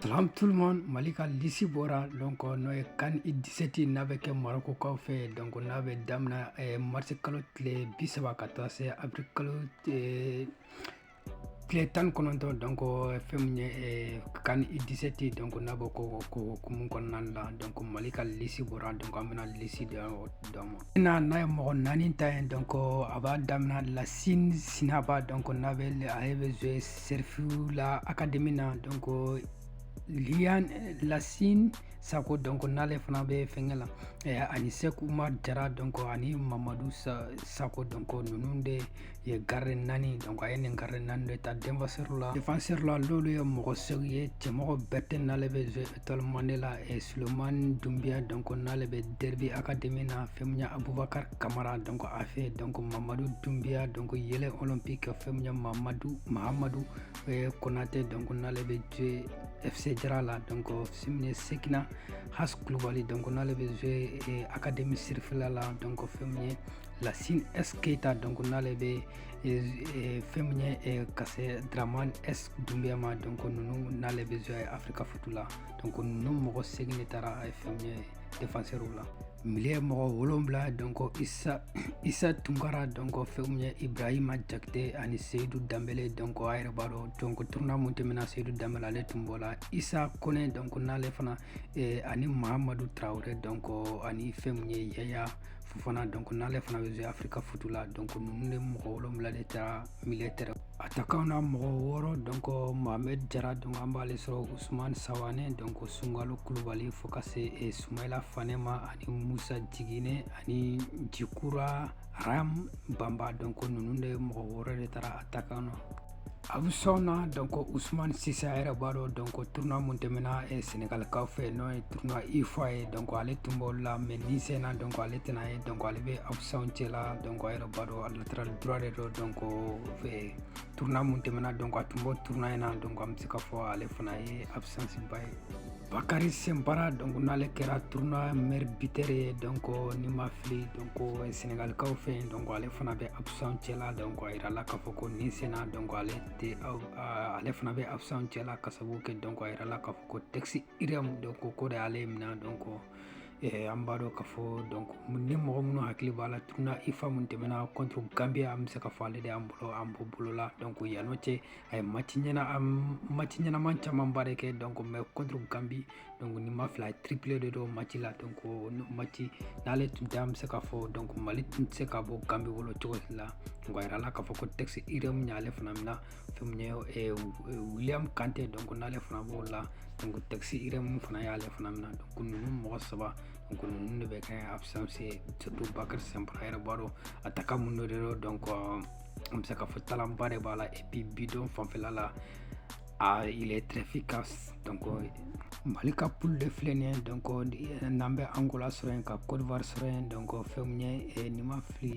Salam tout le monde Mali ka lisi bɔra donc euh, n'o ye CAN U dix-sept n'a bɛ kɛ Marokokaw fɛ donc n'a bɛ daminɛ eh, marisi kalo tile bisaba ka taa se avril kalo eh, tile tan ni kɔnɔntɔn donc euh, fɛn min ye eh, CAN U dix-sept donc n'a b'o ko hukumu kɔnɔna la donc mali ka lisi bɔra donc an bɛna lisi dɔ dɔ ma na n'a ye mɔgɔ naani ta ye donc euh, a b'a daminɛ Lasin Sinaba donc n'a bɛ ale bɛ jue Serifula akademi na donc liyan lasin sako donc n'ale fana bɛ fɛnkɛ la eh, ani sɛk umar jara donc ani mamadu sako donc ninnu de ye gardien naani donc a ye nin gardien naani de ta defansɛri la defansɛri la n'olu ye mɔgɔ segin ye cɛmɔgɔ Bɛrɛte n'ale bɛ Étoile Mande la eh, sulemani dunbiya donc n'ale bɛ derbi akademi na fɛn min ye abubakar kamara donc AFE donc mamadu dunbiya donc Yeelen olympique fɛn min ye mamadu mahamadu eh, konate donc n'ale bɛ jue fc jara la donc fɛn min ye sekina has kulubali donc n'ale bɛ jue eh, akademi sirifila la donc fɛn min ye lasine s keita donc n'ale bɛ fɛn min ye ka se daraman s dunbiya ma donc ninnu n'ale bɛ jue eh afirika futu la donc ninnu mɔgɔ segin de tara fɛn min ye defansɛriw la milieu mɔgɔ wolonwula donc isa isa tunkara donc fɛn min ye ibrahima jakite ani seyidu danbele donc a yɛrɛ b'a dɔn donc tournoi min tɛmɛna seyidu danbele ale tun b'o la isa kone donc n'ale fana ani mahamadu tarawele donc ani fɛn min ye yaya Fofana donc n'ale fana bɛ se afirika futu la donc ninnu de mɔgɔ wolonwula de tara milieu terrain atakanw na mɔgɔ wɔɔrɔ donc mohamed jara donc an b'ale sɔrɔ usman sawane donc sungalo kulubali fo ka se e, sumayila fane ma ani musa jigine ani jikura ram bamba donc ninnu de mɔgɔ wɔɔrɔ de tara atakanw na A bɛ sɔn na dɔn ko usman sisan yɛrɛ b'a dɔn dɔn ko tun minnu tɛmɛna e sengalakaw fɛ n'o ye tun i fɔ a ye dɔn ale tun b'o la mɛ ni senna dɔn ale tɛna ye dɔn ale bɛ abusa cɛ la dɔn yɛrɛ b'a dɔn aliraura de dɔ dɔn ko fɛ tun minnu tɛmɛna dɔn a tun bɔ tun in na dɔn bɛ se ka fɔ ale fana ye abusansiba ye Bakari Sinpara donc n'ale kɛra tournoi meilleur buteur ye donc ni n ma fili donc Senegalikaw fɛ yen donc ale fana bɛ absent cɛla donc a yirala k'a fɔ ko nin senna donc ale tɛ ale fana bɛ absent cɛla ka sababu kɛ donc a yirala k'a fɔ ko test IRM donc o de y'ale minɛ donc Eh, an b'a dɔn k'a fɔ donc ni mɔgɔ minnu hakili b'a la tournoi UFOA min tɛmɛna contre gambia an bɛ se k'a fɔ ale de y'an bolo an bɔ bolo la donc yan'o cɛ a ye match ɲɛna match ɲɛnaman camanba de kɛ donc même contre gambi donc ni n ma fili triplé de don match la donc match n'ale tun tɛ an bɛ se k'a fɔ donc mali tun tɛ se ka bɔ gambi bolo cogo si la donc a yirala k'a fɔ ko test irm y'ale fana mina fɛn min ye eh, william kante donc n'ale fana b'o la donc test irm fana y'ale fana mina donc ninnu mɔgɔ saba donc ninnu de bɛ kɛ absence surtout bakari simpara yɛrɛ b'a dɔn attaquant mun de don donc an bɛ se k'a fɔ talent ba de b'a la et puis bi don fanfɛla la a il est très efficace donc mali ka poule de filɛ nin ye donc n'an bɛ angola sɔrɔ yen ka côte d'ivoire sɔrɔ yen donc fɛn min ye ni n ma fili